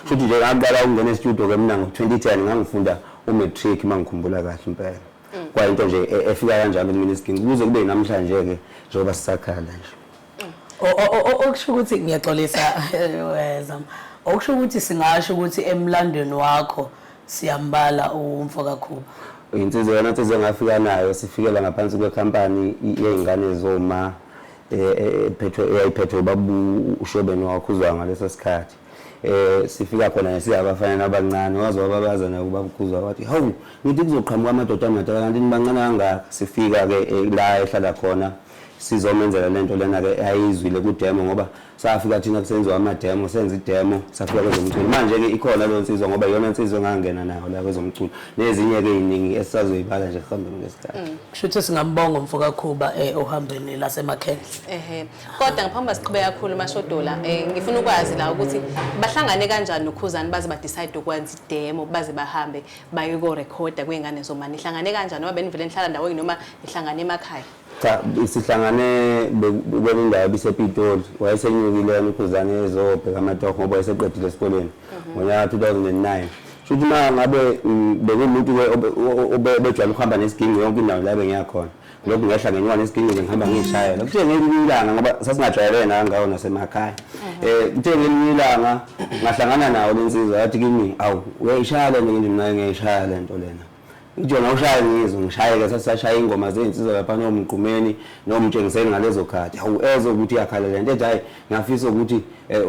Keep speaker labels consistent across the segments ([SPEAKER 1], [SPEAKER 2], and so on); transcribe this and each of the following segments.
[SPEAKER 1] Shuthi nje ngaqala ukungena e-studio ke mina ngo-2010 ngangifunda u-matric uma ngikhumbula kahle impela. Mm. Kwayinto nje e-, efika kanjalo kumina isiginci kuze kube namhlanje-ke njengoba sisakhala nje. Mm. Okusho ukuthi
[SPEAKER 2] ngiyaxolisa eh, Zama. Okusho ukuthi singasho ukuthi emlandweni wakho siyambala umfo kaKhuba. Insizwa yona
[SPEAKER 1] insizwa engafika nayo sifikela ngaphansi kwekhampani yey'ngane zoma ephethwe eyayiphethwe ubaba uShobeni waKhuzwayo ngaleso sikhathi eh sifika khona nesiyabafana abancane waze wababaza naye ubaba uKhuzwayo wathi hawu ngithi kuzoqhamuka amadoda amadoda kanti nibancane kangaka sifika ke eh, la ehlala khona sizomenzela lento lena ke ayizwile kudemo ngoba safika thina kusenziwa amademo senza idemo safika kwezomculo manje-ke ikhona leyo nsizwa ngoba iyona nsizwa engangena nayo la kwezomculo nezinye-ke ey'ningi esisazoyibala nje kuhambeni kwesikhathi mm. kusho ukuthi singambonga
[SPEAKER 2] umfo kakhuba um eh, ohambeni lasemakhendla ehe kodwa
[SPEAKER 3] ngaphambi uba siqhube kakhulu umashodola um eh, ngifuna ukwazi la ukuthi bahlangane kanjani nokhuzani baze badicide ukwenza idemo baze bahambe bayokorekhoda kwey'ngane zomani nihlangane kanjani noma benivele nihlala ndaweni noma nihlangane emakhaya Cha
[SPEAKER 1] sihlangane kwenye indawo ebisePitoli wayesenyukile yena uKhuzane ezobheka amatoho ngoba wayeseqedile esikoleni mhm. ngonyaka 2009 shuthi uma ngabe mm, bekuwumuntu obejwayele ukuhamba nesiginci yonke indawo la bengiyakhona lokhu ngehla ngenyuka nesiginci nje ngihamba ngiyishayela kuthe ngelinye ilanga ngoba sasingajwayelene nangawo nasemakhaya um eh, kuthe ngelinye ilanga ngahlangana nawo le nsizwa yathi kimi awu uyayishaya le nto nje mina ngiyayishaya le nto lena Ujona ushaya ngizwe ngishayeke sasashaya ingoma zezinsizwa lapha nomgqumeni nomtshengiseni ngalezo khathi hawu ezwe ukuthi yakhala lento ethi hayi ngafisa ukuthi eh,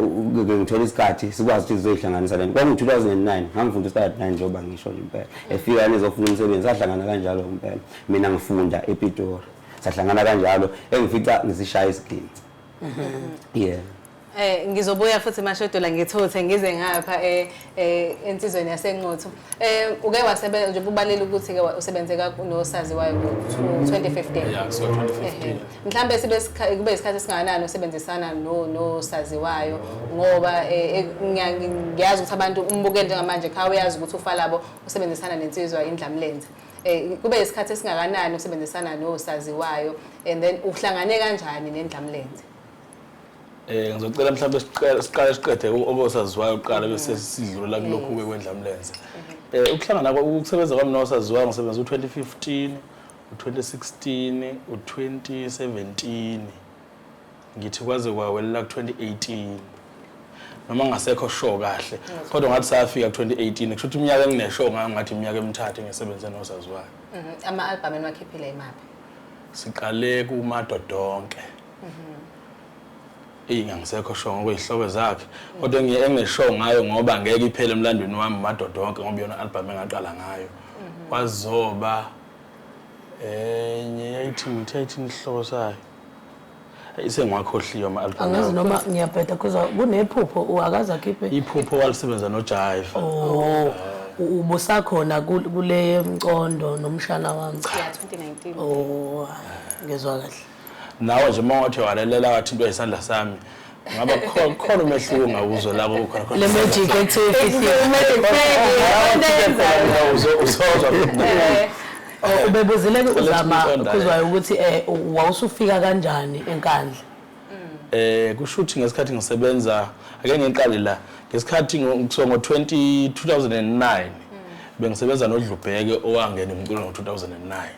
[SPEAKER 1] ngithola isikhathi sikwazi ukuthi sizoyihlanganisa lento kwaku 2009 ngangifunda isikhathi nani njengoba ngisho nje impela efika nezofuna umsebenzi sahlangana kanjalo impela mina ngifunda ePitori sahlangana kanjalo engifica ngisishaya isigidi mhm. yeah Eh
[SPEAKER 3] ngizobuya futhi mashodola ngithuthe ngize ngapha eh, eh ensizweni yasenqotho. Eh uke wasebenza nje kubalele ukuthi ke usebenze kakunosazi wayo 2015. Yeah, so 2015.
[SPEAKER 4] Mhlambe
[SPEAKER 3] sibe kube isikhathi singanani usebenzisana no nosazi wayo ngoba eh, eh, ngiyazi ukuthi abantu umbukele njengamanje kha uyazi ukuthi ufalabo usebenzisana nensizwa indlamlenze. Eh kube isikhathi singakanani usebenzisana nosaziwayo and then uhlangane kanjani nendlamlenze?
[SPEAKER 4] Eh ngizocela mhlawumbe siqale siqale siqede okosaziwayo kuqala bese sidlula kulokhu ke kwendlamlenze. Eh ukuhlangana kwa- ukusebenza kwami nosaziwayo ngisebenza u-2015, u-2016, u-2017. Ngithi kwaze kwawelela ku-2018. Noma ngasekho show kahle. Kodwa ngathi safika ku-2018 kusho ukuthi iminyaka engineshow ngayo ngathi iminyaka emithathu ngisebenze nosaziwayo. Mhm. Ama-albhamu
[SPEAKER 3] eniwakhiphile imaphi? Siqale
[SPEAKER 4] kumadodonke. eyi ngangisekho sho ngokuyihlobo zakhe kodwa engingesho ngayo ngoba ngeke iphele emlandweni wami madoda wonke ngoba yona album engaqala ngayo mhm. kwazoba enye yayithi ngithe ithi inhloko sayo isengwakhohliwe ama-album angazi noma ngiyabheda
[SPEAKER 2] kuza kunephupho akaze akhiphe iphupho walisebenza
[SPEAKER 4] nojive oh ubusakhona
[SPEAKER 2] kule mcondo nomshana wami cha 2019 oh
[SPEAKER 3] ngezwa
[SPEAKER 2] kahle Nawe nje uma
[SPEAKER 4] wathe walalela wathintwa isandla sami ngaba khona khona umehluko ongawuzwa la kukhona khona. Le magic ekuthiwa
[SPEAKER 2] ifihlile.
[SPEAKER 4] Uzozwa Eh, Oh,
[SPEAKER 2] ubebuzile ke So let's uzama move on, Dale. khuzwayo ukuthi eh wawusufika kanjani enkandla eh
[SPEAKER 4] kushuthi ngesikhathi ngisebenza ake ngiqale la ngesikhathi ngo- ngisuka ngo 20 2009 bengisebenza noDlubheke owangena umculo ngo 2009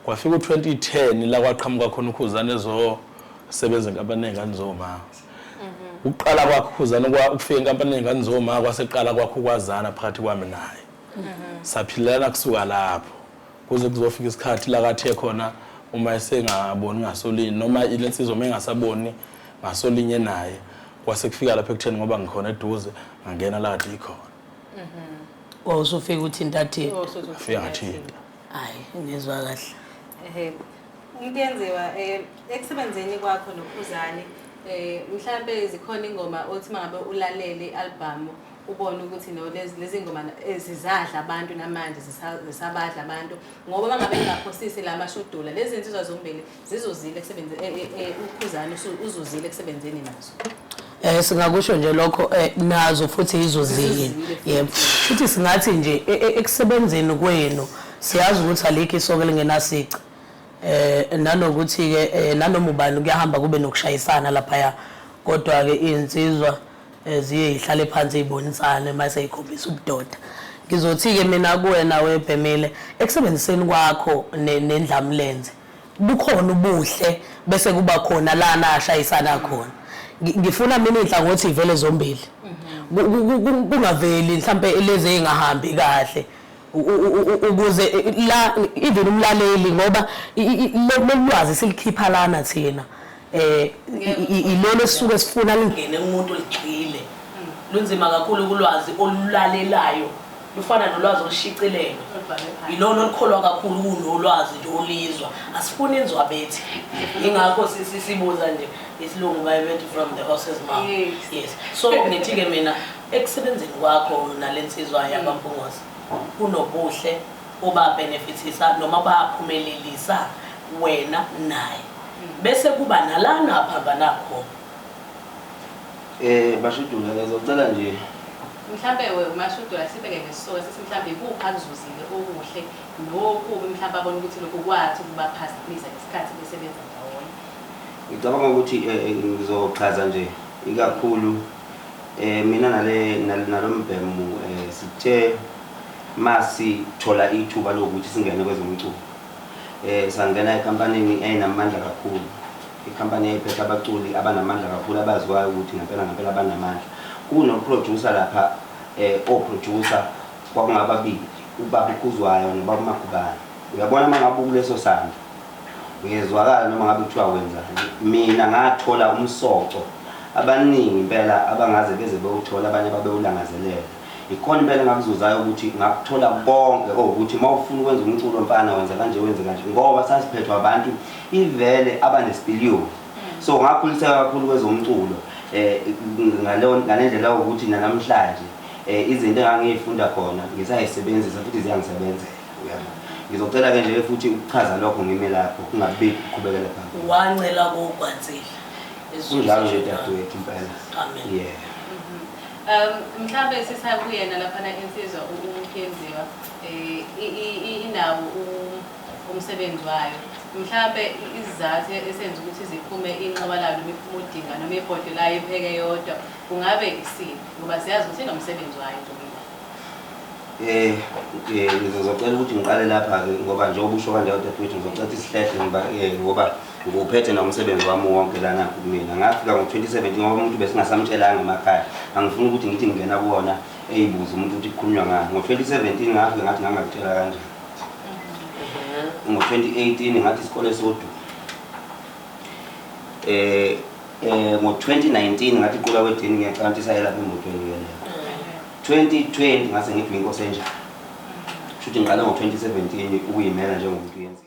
[SPEAKER 4] kwafika u-2010 la kwaqhamuka khona ukhuzane ezosebenza enkampanini yey'ngane zoma ukuqala kwakhe ukhuzane ukufika enkampanini yey'ngane zoma kwaseqala kwakhe ukwazana phakathi kwami naye saphilelana kusuka lapho kuze kuzofika isikhathi la kathe khona uma esengaboni ngasolini noma ile nsizwa uma engasaboni ngasolinye naye kwase kufika lapho ekutheni ngoba ngikhona eduze ngangena la kade ikhona Wa
[SPEAKER 2] usufika ukuthi intatheli. Fika ngathinta.
[SPEAKER 4] Hayi, ngizwa
[SPEAKER 2] kahle. Ehe. Umntenziwa
[SPEAKER 3] eh ekusebenzeni kwakho noKhuzani eh mhlambe zikhona ingoma othi mangabe ulalele ialbum ubone ukuthi no lezi lezi ngoma na- eh, zizadla abantu namanje zisa- zisabadla abantu ngoba mangabe engaphosisi la mashudula lezi nsizwa zombili zizuzile kusebenze eh, eh, eh, ukhuzani usu- uzuzile ekusebenzeni nazo Eh singakusho nje lokho
[SPEAKER 2] eh, nazo futhi izozile. Izozile. Yebo. Futhi singathi nje e- e- ekusebenzeni kwenu siyazi ukuthi alikho isoko lingenasici. Eh nanokuthi ke eh, nanoma ubani kuyahamba kube nokushayisana lapha ya. Kodwa ke insizwa eh, ziye ihlale phansi ibonisane mase ikhombisa ubudoda. Ngizothi ke mina kuwena webhemile ekusebenziseni kwakho ne- nendlamlenze. bukhona ubuhle bese kuba khona lana ashayisana khona ngifuna mina inhlangothi ivele zombili mhm. kungaveli mhlambe lezi engahambi kahle ukuze la even umlaleli ngoba lolwazi silikhipha lana thina eh ilona esisuke sifuna lingene umuntu oligxile lunzima kakhulu kulwazi olulalelayo lufana nolwazi olushicilelwe yilona olukholwa kakhulu kunolwazi nje olizwa asifuni inzwa bethi ingakho sibuza nje isilungu bayebethi from the horses mouth yes so ngithi-ke mina ekusebenzini kwakho nale nsizwa yabampungozi kunobuhle obabhenefithisa noma baphumelelisa wena naye bese kuba nalana aphambana khona Eh
[SPEAKER 1] bashudula ngizocela nje mhlambe
[SPEAKER 3] we umashudula sibeke ngesoka sithi mhlambe ikuphi akuzuzile okuhle nokubi mhlambe abona ukuthi lokhu kwathi ukubaphazamisa ngesikhathi besebenza ndawonye ngicabanga
[SPEAKER 1] ukuthi eh, eh, ngizochaza nje ikakhulu eh mina nale nal- nalombhemu eh sithe masithola ithuba lokuthi singene kwezomculo Eh, sangena ekampanini eyayinamandla kakhulu ikampani eyayiphethe abaculi abanamandla kakhulu abaziwayo ukuthi ngempela ngempela banamandla kunoproducer lapha eh, oproducer kwakungababili ubaba ukhuzwayo nobaba umagubane uyabona uma ngabe ukuleso sandla uyezwakala noma ngabe kuthiwa wenzani mina ngathola umsoco abaningi impela abangaze beze bewuthola abanye babewulangazelela Ikhona impela engakuzuzayo ukuthi ngakuthola konke owukuthi uma ufuna ukwenza umculo mfana wenza kanje wenze kanje ngoba sasiphethwe abantu ivele abanesipiliyoni mm. so ngakhuliseka kakhulu kwezomculo eh ngalendlela ukuthi nanamhlanje eh izinto engangiyifunda khona ngisayisebenzisa futhi ziyangisebenzela uyabona ngizocela ke nje futhi ukuchaza lokho ngime lapho kungabe kuqhubekela phambili wancela
[SPEAKER 2] kokwanzile kunjalo
[SPEAKER 1] nje dadewethu impela amen yeah Um, mhlawumbe
[SPEAKER 3] sisakuyena laphana insizwa uMkhenziwa eh, inawo umsebenzi wayo mhlawumbe izizathu esenza ukuthi ziphume inqoba layo noma iphume udinga noma ibhodwe layo ipheke yodwa kungabe isini ngoba siyazi ukuthi inomsebenzi wayo eh, eh ngizocela ukuthi ngiqale
[SPEAKER 1] lapha-ke ngoba njengoba usho kanje kodwa futhi ngizocela ukuthi sihlehla ngoba eh, ngoba Nguphethe nomsebenzi wami wonke lana kumina ngafika ngo-2017 ngoba umuntu besingasamtshelanga emakhaya angifuni ukuthi ngithi ngingena kuwona eyibuze umuntu ukuthi kukhulunywa ngani ngo-2017 ngafike ngathi ngangakutshela kanjani ngo-2018 ngathi isikole sodu eh eh ngo-2019 ngathi iqula wedini ngiyacala ukuthi isayelapha emotweni ngiyeleyo 2020 ngase ngithi nginkosenjani shuthi ngiqale ngo-2017 ukuyimela njengomuntu yenza